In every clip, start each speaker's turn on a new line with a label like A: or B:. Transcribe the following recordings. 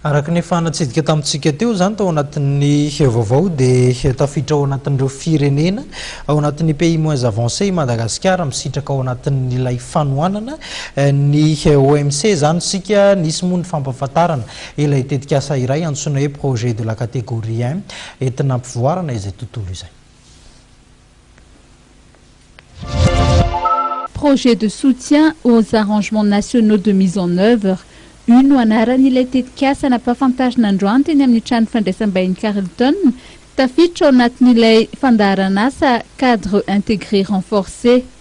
A: Araka ny efa natsidika tamintsika teo izany tao anatin'ny vaovao dia tafiditra ao anatin'ireo firenena ao anatin'ny pays moins avancé i Madagasikara misitraka ao anatin'ilay fanohanana eh, ny eh, OMC izany isika nisy moa ny fampafantarana ilay tetikasa iray antsoina hoe projet de la catégorie 1 entina ampivoarana izay tontolo izay.
B: Projet de soutien aux arrangements nationaux de mise en oeuvre, Io no anaran'ilay tetikasa nampahafantarina androany teny amin'ny trano fandraisam-bahiny Carlton, tafiditra ao anatin'ilay fandaharan'asa Cadre intégré renforcé.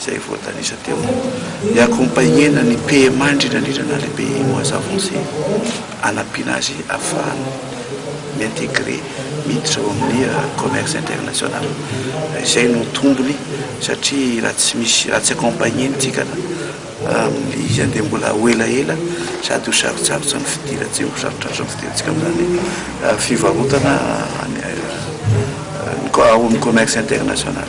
C: izay voatanisa teo, ny accompagner-na ny PMA indrindra indrindra na le pays moins avancé, hanampiana azy hahafahany mi-integrer, miditra eo amin'ny commerce international. Izay no tombony satria raha tsy misy, raha tsy accompagner-ntsika amin'ilay izy andeha mbola ho elaela sady ho sarotsarotra ny fidiran-, tsy ho sarotsarotra ny fidirantsika amin'izany fivarotana any, ao amin'ny commerce international.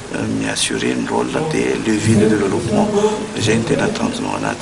C: mi-assurer ny rôle dia levier de développement izay no tena tanjonao anaty.